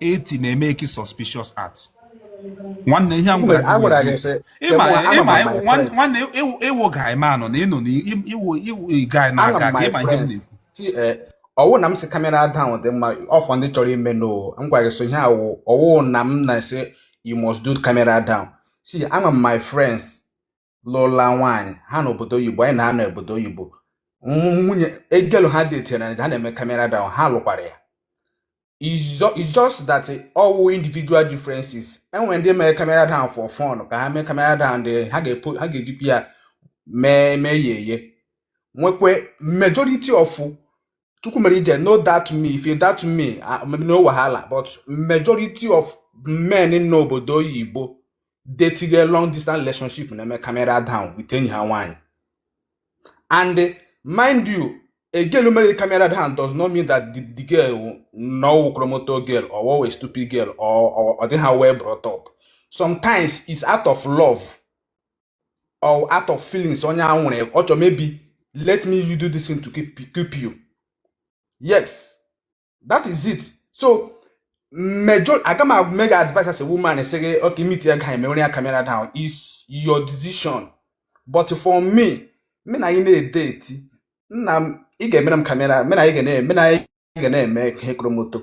Speaker 2: 80 na-eme ke suspicious act nwanne ihe m gwara gị nwanne ị wụ guy man nọ na ị nọ na ị wụ ị wụ guy na-aga aga ị ma ihe m na-ekwu eh, ọ wụ na m
Speaker 1: sị camera down dị mma ọ for ndị chọrọ ime no m gwara gị so ihe a wụ ọ wụ na m na-asị you must do camera down see ama m my friends lụla nwaanyị ha n'obodo oyibo anyị na-anọ obodo oyibo nwunye a girl ha detiri na ha na-eme camera down ha lụkwara ya it's just that ọ wụ individual differences enwere ndị mere camera down for fun ka ha mee camera down dị ha ga-ejikwa ya mee mee ya eye nwekwe majority of chukwu mere ije no that me if you that me ah, maybe no wahala but majority of men in n'obodo oyibo they tinye long distance relationship na-eme camera down with enyi ha nwaanyị and eh, mind you a girl who married camera down does not mean that the, the girl no chromoto girl or a stupid girl or or, or they have well brought up sometimes it's out of love or out of feelings onye ahụ nwere ọ chọrọ maybe let me you do this thing to keep, keep you yes that is it so me aga m aga mega advice as a woman sị gị okay meet a guy mewere ya camera down is your decision but for me mụ na gị na-edeti nna m ị ga-emere m camera mụ na gị ga na-eme mụ na gị ga na-eme ihe kromoto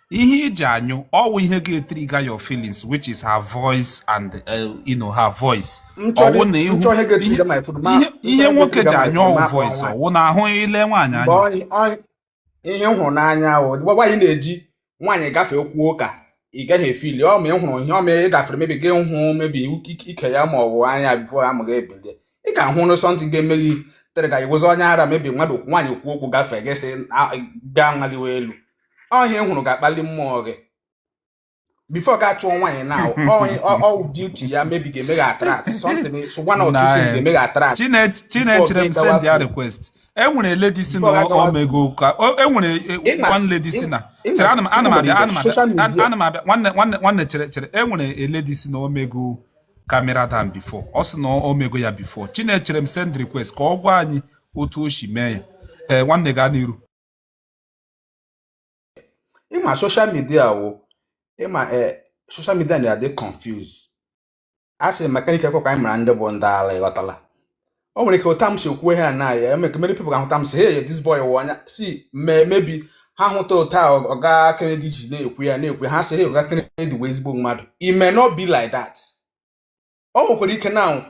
Speaker 2: ihe iji anyụ ọwụ ihe ga-etrigger your feelings which is her voice and uh, you know her voice ọwụ na ihu ihe nwoke ji anyụ ọwụ voice ọwụ na ahụ ile nwaanyị anya ihe
Speaker 1: m hụrụ n'anya ahụ nwaanyị na-eji nwaanyị gafee okwuo ụka ị gaghị efeel ọ ma ị hụrụ ihe ọ ma ị gafere maybe gị hụ maybe ike ya ma ọ bụ ara ya before amụ ga-ebili ị ga-ahụrụ something ga-eme gị trigger ị wụzi onye ara maybe mmadụ nwaanyị okwu okwu gafee gị sị gaa nwaliwe elu ọ ihe ị hụrụ ga-akpali mmụọ gị before gị achụọ nwaanyị na ọwụ beauty ya maybe ga-eme gị attract something one or two things ga-eme gị attract Chinecherem
Speaker 2: send ya request enwere lady sị na o mego ụka enwere one lady sị na chere ana m abịa ana m abịa nwanne chere chere enwere lady sị na o mego camera down before ọ sị na o mego ya before Chinecherem send request ka ọ gwa anyị otu o si mee ya ee nwanne gaa n'iru
Speaker 1: ị ma social media wụ ị ma ee social media na-adị confuse a sị mechanic ekweghị ka anyị mara ndị bụ ndị ala ị ghọtala o nwere ike otu a m si ekwu ihe na ya eme ka many people ga-ahụta m sị hey this boy wụ anya si mee maybe ha hụta otu a, ọ- ọga Kennedy ji na-ekwu ya na-ekwu ya ha sị hey ọga Kennedy wụ ezigbo mmadụ it may not be like that o nwekwara ike na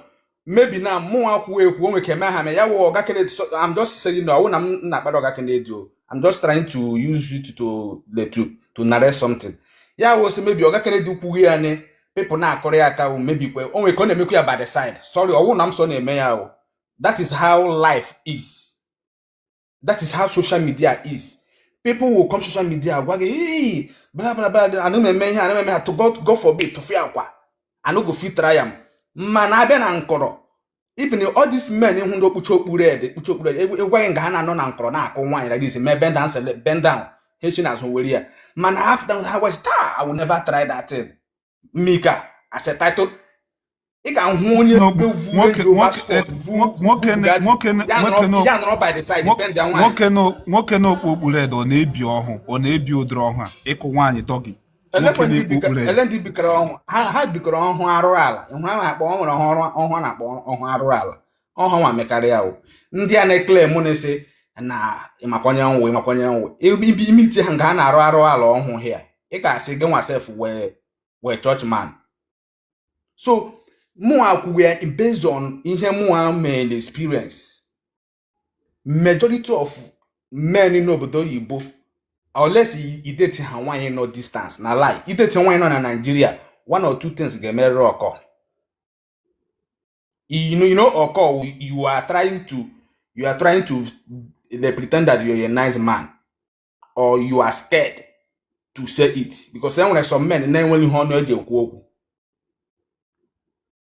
Speaker 1: maybe na mụnwa kwuo ekwu o nwere ike eme ha mee ya wụ ọga Kennedy so I'm just saying na ọwụ na m na-akparị ọga Kennedy o I'm just trying to use it to to to narrate something ya wụ sị maybe ọga Kennedy kwughị ya ni people na-akụrụ ya aka o maybe kwa o nwere ka ọ na-emekwa ya by the side sorry ọwụ na m so na-eme ya o that is how life is that is how social media is people will come social media gwa gị hey bla bla bla anụ m eme ihe anụ m eme ha to god god forbid tụfịakwa I no go fit try am mana a bịa na nkọrọ even all these men ị hụ ndị kpuchi okpu red ekpuchi okpu red ị gawa nga ha na-anọ na nkọrọ na-akụ nwaanyị like this mee bend down sele bend down ha eshi n'azụ were ya mana after ha was taa I will never try that thing mika as a title ị ga-ahụ
Speaker 2: onye nwoke na okpu red ọ na-ebi ọhụ ọ na-ebi ụdịrị ọhụ a ịkụ nwaanyị doggy
Speaker 1: ele ndị bikọrọ ọhụ ha bikọrọ ọhụ arụrụ ala ị hụ ha na-akpọ o nwere ọhụ a na-akpọ ọhụ arụrụ ala ọhụ nwa mekarịa ndị a na-eclaim na-asị na ị makwa onye m wụ ị makwa onye m wụ ibi i meetie ha nga ha na-arụ arụ ala ọhụ ya ị ga-asị gị nwa sef wụ wụ church man so mụnwa kwuwe based on ihe mụnwa mere experience majority of men n'obodo oyibo unless i date ha nwaanyị nọ distance na lie i date nwaanyị nọ na Nigeria one or two things ga-emerịrị occur you know, you know occur you are trying to you are trying to dey pretend that you're a nice man or you are scared to say it because enwere some men na-enweghị ihe ọnụ eji ekwu okwu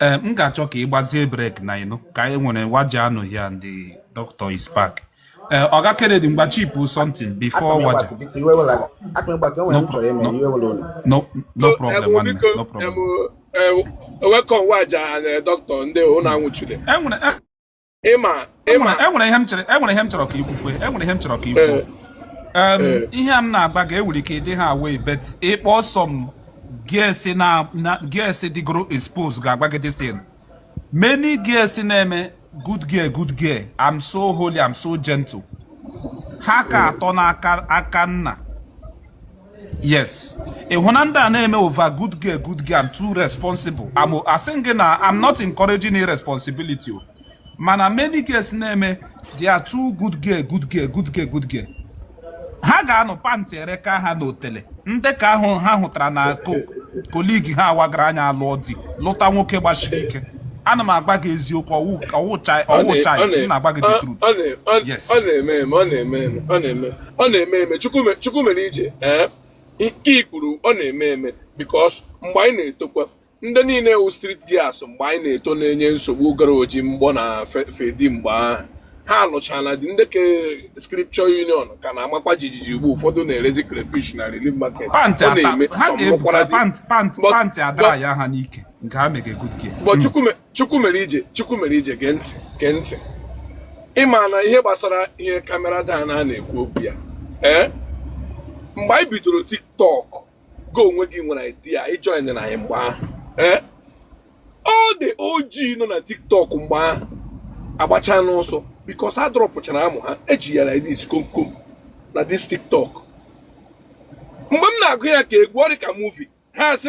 Speaker 2: ee m ga-achọ ka ị gbazie break now you know ka anyị nwere waja nọ here and doctor is back ee ọga kennedy mgba chipu something before waja no no problem nwanne no
Speaker 5: problem welcome waja and doctor ndị unu anwụchule enwere
Speaker 2: ịma ịma enwere ihe m chere enwere ihe m chọrọ ka ikwukwe enwere ihe m chọrọ ka ikwu eh. Eh. ihe a m na-agba ga enwere ike ịdị ha aware but ịkpọ some girls dịgoro expose ga-agba gị this thing many girls na-eme good girl good girl I'm so holy I'm so gentle ha ka atọ n'aka nna yes ịhụna ndị a na-eme over good girl good girl I'm too responsible I'm asị gị na I'm not encouraging irresponsibility o mana many girls na-eme they are too good girl good girl good girl good girl ha ga-anọ pant ereka ha n'otele ndị ka ahụ ha hụtara na colleague ha wagara anya alụọ di lụta nwoke gbasiri ike ana m agba gị eziokwu ọwụcha isi na-agba gị the truth yes
Speaker 5: ọ na-eme eme chukwu mere ije ee nke i kwuru ọ na-eme eme because mgbe anyị na-etokwa ndị niile wụ street girls mgbe anyị na-eto na-enye nsogbu gara Ojimgbọ na Feddy mgbe ahụ ha alụchala di ndị ke scripture union ka na-amakwa jijiji ugbu ụfọdụ na-erezi crayfish na relief market ọ na-eme
Speaker 2: pant adara ya ha n'ike
Speaker 5: chukwu mere ije chukwu mere ije gee ntị gee ntị ịma na ihe gbasara ihe camera Dan a na-ekwu okwu ya ee eh? mgbe anyị bidoro tiktok go onwe gị nwere idea ịjoin na anyị mgbe ahụ ee eh? all the OG nọ na tiktok mgbe ahụ agbachana ọsọ because a dropụchara amụ ha eji ya like this komkom na this tiktok mgbe m na-agụ ya ka egwu ọ dị ka movie ha si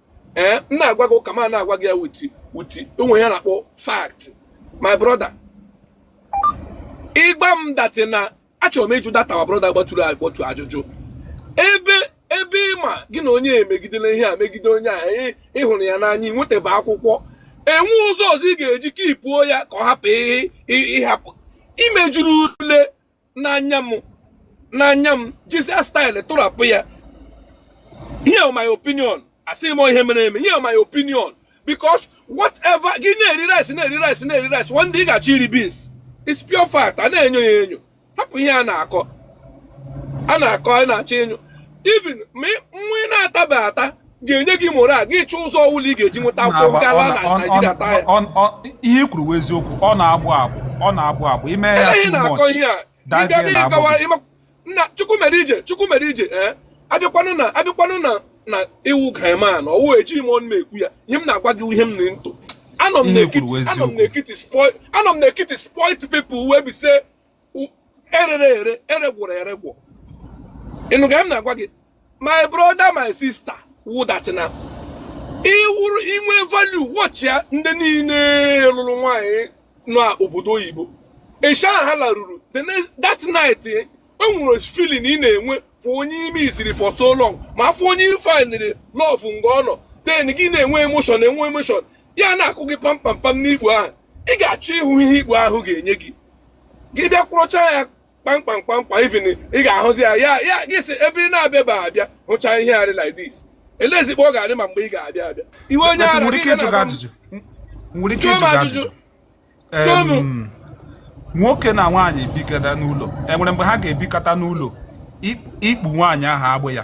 Speaker 5: ee m na-agwa gị ụka ma na-agwa gị ya wuti wuti o nwe ihe a na-akpọ fact my brother gbam that thing a achọrọ m ịjụ that our brother gbatụrụ agbatụ ajụjụ ebe ebe ịma gị na onye emegidela ihe a megide onye a ịhụrụ ya n'anya ị nwetaba akwụkwọ enwe ụzọ ọzọ ị ga-eji keepuo ya ka ọ hapụ ịhapụ imejuru ule n'anya m n'anya m jizie style tụrapụ ya here my opinion asịghị m ihe mere eme here my opinion because whatever gị na-eri rice na-eri rice na-eri rice one day ị ga-achọ iri beans it's pure fact a na-enyo ya enyo hapụ ihe a na-akọ a na-akọ a na-achọ enyo even ma nwa ị na-atabeghị ata ga-enye gị morale gị chọọ ụzọ ọwụla ị ga-eji nweta akwụkwọ gala na Naịjirịa taa ya ihe i
Speaker 2: kwuru eziokwu ọ na-agbụ agbụ ọ na-agbụ agbụ ime ya too much nna chukwu mere ije chukwu mere ije ee eh? abịakwanụ na abịakwanụ na na ị wụ guyman na ọwụ ejighị m ọnụ na-ekwu ya ihe m na-agwa gị ihe m na ntụ anọ m n'ekiti spoil anọ m n'ekiti spoil people wey be say erere ere eregwụrụ eregwụ ị nụ ka m na-agwa gị my brother my sister wụ that na ị wụrụ i nwee value watch ya ndị niile lụrụ nwaanyị n'obodo oyibo eshi ha laruru that night eh, e nwere feeling ị na-enwe for onye ị missiri for so long ma for onye ị findiri love nga ọ nọ then gị na-enwe emotion enwe emotion ya na-akụ gị pampampam n'ikpu ahụ ị ga-achọ ịhụ ihe ikpu ahụ ga-enye gị gị bịa kwụrụcha ya kpamkpam kpamkpam even ị ga-ahụzi ya ya ya gị si ebe ị na-abịa ba abịa hụcha ihe rị like this elezi ikpu ọ ga-adị ma mgbe ị ga-abịa abịa iwe onye ara nwere ike ịjụ gị ajụjụ nwere ike ịjụ gị ajụjụ nwoke na nwaanyị bikọta n'ụlọ enwere mgbe ha ga-ebikọta n'ụlọ ikpu nwaanyị ahụ agbụ ya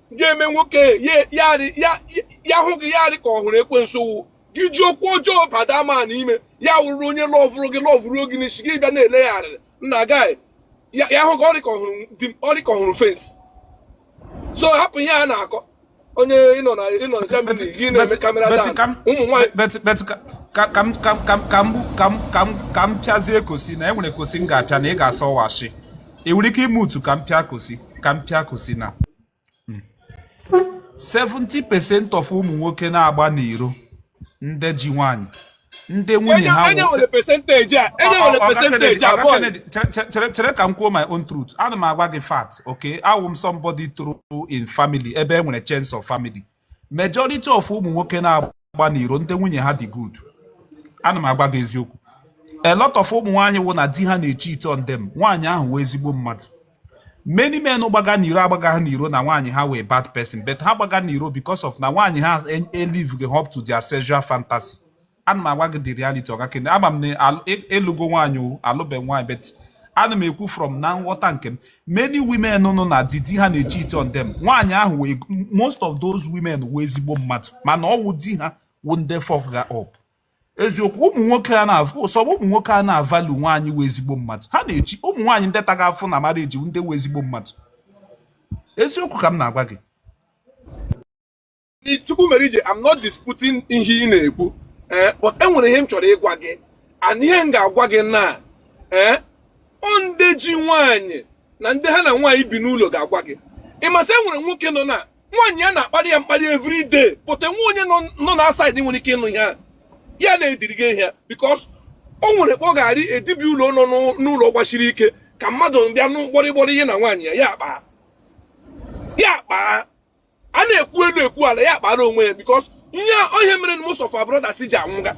Speaker 5: ga-eme nwoke ya hụ gị ya dị ka ọ hụrụ ekwensu wụ gị ji ụkwụ ọjọọ bata ma n'ime ya wụrụ onye lọvụrụ gị lọvụrụ gị n'isi gị bịa na-ele ya arịrị nna gị ya hụ gị ọ dị ka ọ hụrụ fensị so hapụ ihe a na-akọ onye ị nọ na ị nọ na Germany gị na-eme calm down
Speaker 2: ụmụ nwaanyị ka m pịazie kosi na enwere kosi m ga-apịa na ị ga-asọ washi ị nwere ike ime utu ka m pịa kosi ka m pịa kosi na 70% of ụmụ nwoke na-agba n'iro ndị ji nwaanyị ndị nwunye ha Onye nwere percentage a, onye nwere Oga percentage Kennedy, a, Oga boy. Kennedy, chere- chere- chere chere ka m kwuo my own truth ana m agwa gị fact okay awụ m somebody toro in family ebe e nwere chains of family majority of ụmụ nwoke na-agba n'iro ndị nwunye ha dị good ana m agwa gị eziokwu a lot of ụmụ nwaanyị wụ na di ha na-echeati on them nwaanyị ahụ wụ ezigbo mmadụ many men gbaga n'iro agbaga ha n'iro na nwaanyị ha wụ bad person but ha gbaga n'iro because of na nwaanyị ha eliveghị up to their sexual fantasy ana m agwa gị the reality ọga kene ama m na ịlụgo e, e nwaanyị o alụbe nwaanyị but ana m ekwu from na nghọta nke m many women nọ na di di ha na-echeat on them nwaanyị ahụ wee most of those women wụ ezigbo mmadụ mana ọ wụ di ha wụ ndị fuck ga up eziokwu ụmụ nwoke a na-avụ sọ ụmụ nwoke a na-avalue nwaanyị wụ ezigbo mmadụ ha na-echi ụmụ nwaanyị ndị taga afụfụ na marriage ndị wụ ezigbo mmadụ eziokwu ka m na-agwa gị
Speaker 5: Chukwumerije I'm not disputing ihe ị na-ekwu ee eh, but enwere ihe m chọrọ ịgwa gị and ihe m ga-agwa gị na ee eh, ndị ji nwaanyị na ndị ha na nwaanyị bi n'ụlọ ga-agwa gị ị ma sị enwere nwoke nọ na nwaanyị ya na-akparị ya mkparị every day but enweghị onye nọ na outside nwere ike ịnụ ihe ya na-ediri gị ihe because o nwere kpọ ga-arị edibi ụlọ nọ n'ụlọ gbachiri ike ka mmadụ bịa nụ gbọrịgbọrị ihe na nwaanyị ya ya akpa ya akpa a na-ekwu elu ekwu ala ya akpara onwe ya because ihe onye mere most of our brothers ji anwụga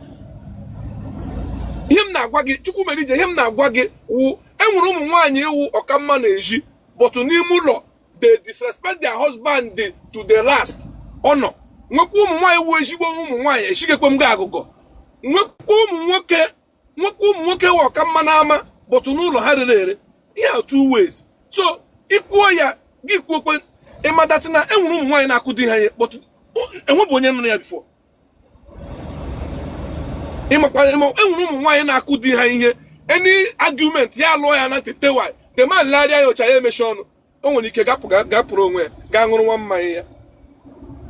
Speaker 5: ihe m na-agwa gị Chukwumerije ihe m na-agwa gị wụ enwere ụmụ nwaanyị wụ ọka mma n'ezi but n'ime ụlọ they disrespect their husband to the last honor nwekwa ụmụ nwaanyị wụ ezigbo ụmụ nwaanyị eshigekwe m gị agụgọ nwekwa ụmụ nwoke nwoke ụmụ nwoke wụ ọka mma n'ama but n'ụlọ ha rere ere ihe a two ways so i kwuo ya gị kwuokwe ịmadachi na e nwere ụmụ nwaanyị na-akụ di ha ihe but enwebụ onye nụrụ ya before ịmakwa ịma e nwere ụmụ nwaanyị na-akụ di ha ihe any argument ya lụọ ya na ntị tewai the man larịa ya ụcha ya emechi ọnụ o nwere ike gapụrụ onwe ya gaa ṅụrụ nwa mmanya ya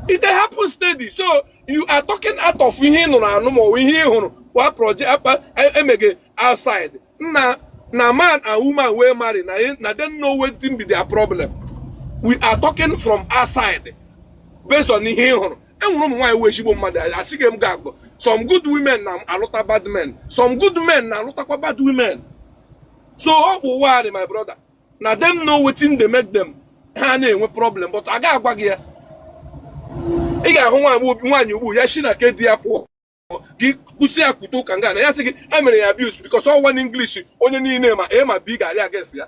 Speaker 5: it happen steady so you are talking out of ihe ị nụrụ anụ ma ọ bụ ihe ị hụrụ kwa project akpa emege e outside nna na man and woman wey marry na na dem know wetin be their problem we are talking from outside based on ihe ị hụrụ enwere ụmụ nwaanyị wụ ezigbo mmadụ esighị m gị agụgọ some good women na-alụta bad men some good men na-alụtakwa bad women so ọ bụ ụwa my brother na dem know wetin dey make dem ha na-enwe problem but a ga-agwa gị ya ị ga-ahụ nwaanyị ugbu ya shi na ke di ya pụọ gị kwụsị ya kwute ụka nga na ya sị gị e mere ya abuse because ọ one English onye niile ma A ma B ga-arị against ya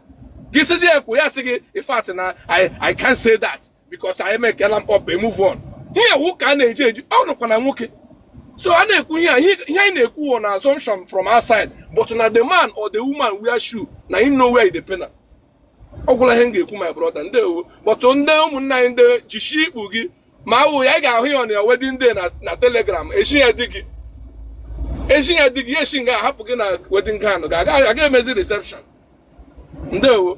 Speaker 5: gị sịzi ya kwuo ya sị gị in fact na I I can't say that because anyị mekela mkpọpe move on ihe wụ ka a na-eji eji ọ nọkwa na nwoke so a na-ekwu ihe ihe anyị na-ekwu wụ na assumption from outside but na the man or the woman wear shoe na him know where dey pain am ọ gwụla ihe m ga-ekwu my brother ndewo but ndị ụmụnne anyị ndị jishi ikpu gị ma awụ ya ị ga-ahụ ya na wedding day na telegram echi ya di gị echi ya di gị ya echi nga ahapụ gị na wedding gown ga aga emezi reception ndewo